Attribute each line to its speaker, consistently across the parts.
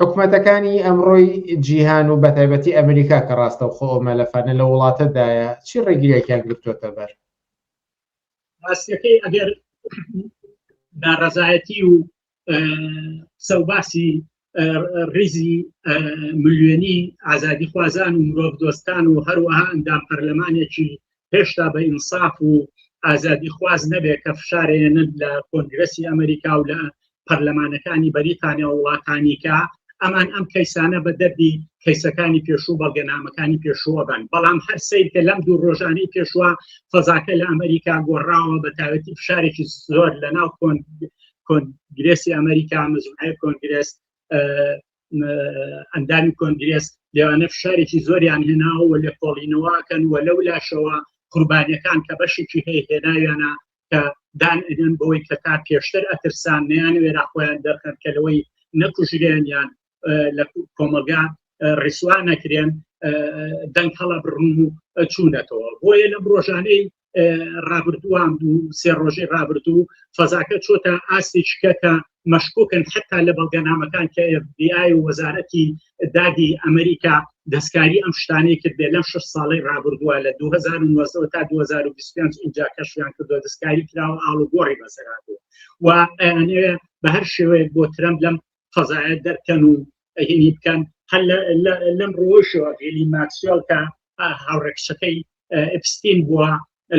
Speaker 1: حکومەتەکانی ئەمڕۆی جیهان و بەتایبەتی ئەمریکا کە ڕاستەوخۆ ئەو مەلەفانە لە وڵاتەدایە چی ڕێگریەکیان گرتووەتە بەر؟ ڕاستەکەی
Speaker 2: ئەگەر ناڕەزایەتی و سەوباسی ڕیزی ملیۆنی ئازادی خوازان و مرۆڤ دۆستان و هەروەها ئەندام پەرلەمانێکی هێشتا بە ئینساف و ئازادی خواز نەبێت کە فشارێنن لە کۆنگرسی ئەمریکا و لە پەرلەمانەکانی بەریتانیا و وڵاتانیکە ئەمان ئەم کەیسانە بە دەردی کەیسەکانی پێشوو بەڵگەنامەکانی پێشووە بن بەڵام هەر سیر کە لەم دوو ڕۆژانی پێشوە فەزاکە لە ئەمریکا گۆڕاوە بە تاوەتی فشارێکی زۆر لە ناو کۆن کۆنگرێسی ئەمریکا مزمای کۆنگرێس ئەندامی کۆنگرێس لێوانە فشارێکی زۆریان هێناوە لە کۆڵینەوەکەن و لەو لاشەوە قوربانیەکان کە بەشێکی هەیە هێناویانە کە دان ئەدەن بەوەی کە تا پێشتر ئەترسان نیان وێرا خۆیان دەرخەن کە لەوەی نەکوژرێنیان لە کۆمەلگا ڕیسوان نەکرێن دەنگ هەڵە بڕون و چوونەتەوە بۆیە لە ڕۆژانەی ڕابردووان بوو سێ ڕۆژی ڕابردوو فەزاکە چۆتە ئاستی شکەکە مەشکوکن حتا لە بەڵگەنامەکان کە FBI و وەزارەتی دادی ئەمریکا دەستکاری ئەم شتانەی کرد بێ لەم شش ساڵی ڕابردووە لە 2009 تا 2025 اینجا کەشیان کردو دەستکاری کراوە ئاڵوگۆڕی بەسەراتوە و بە هەر شێوەیە بۆ ترەم لەم قەزایە دەرکەن و ئەهێنی بکەن هەل لەم ڕۆشەوە هێلی ماکسیۆل کە هاوڕێکشەکەی ئەپستین بووە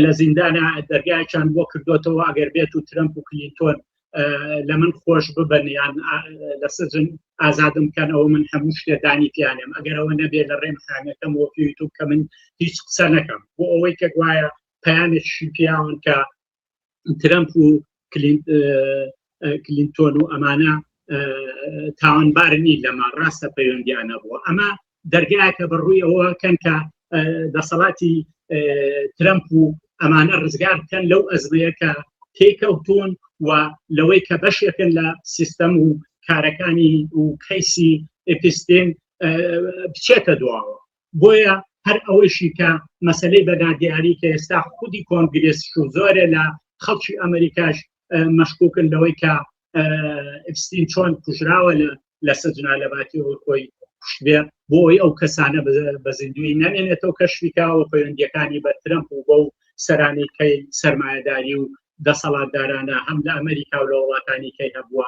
Speaker 2: لە زیندانە دەرگایان بۆ کردوێتەوە ئەگەر بێت و ترمپ و کلینتۆن لە من خۆش ببن یان لە سجن ئازادم بکەن ئەوە من هەموو شتێدانی پیانم ئەگەرەوە نەبێت لە ڕێم خانەکەم وە یوتوب کە من هیچ قسە نەکەم بۆ ئەوەی کە گوایە پەیامێکی پیاون کە ترەمپ و کلینتۆن و ئەمانە تاوانبارنی لەمە ڕاستە پەیوەندیانە بووە ئەمە دەرگایەکە بەڕووی ئەوە کەنکە دەسەڵاتی ترەمپ و ئەمانە ڕزگار بکەن لەو ئەزمەیەکە تێکەوتون و لەوەی کە بەشێکن لە سیستەم و کارەکانی و کەیسی ئپستین بچێتە دواوە بۆیە هەر ئەوەیشی کە مەسلەی بەدا دیاری کە ئێستا خودی کۆنگرێس و زۆرە لە خەڵکی ئەمریکاش مەشکوکن لەوەی کە ئەفستین چۆن کوژراوە لە سەجنا لە باتی خۆی کوشتێ بۆ ئەوی ئەو کەسانە بە زیندوی نامێنێتەوە کەشویکاوە پەیوەندیەکانی بە ترەمپ و بەو سەرانی کەی سەرمایەداری و دەسەڵاتدارانە هەم لە ئەمریکا و لە وڵاتانی کەی هەبووە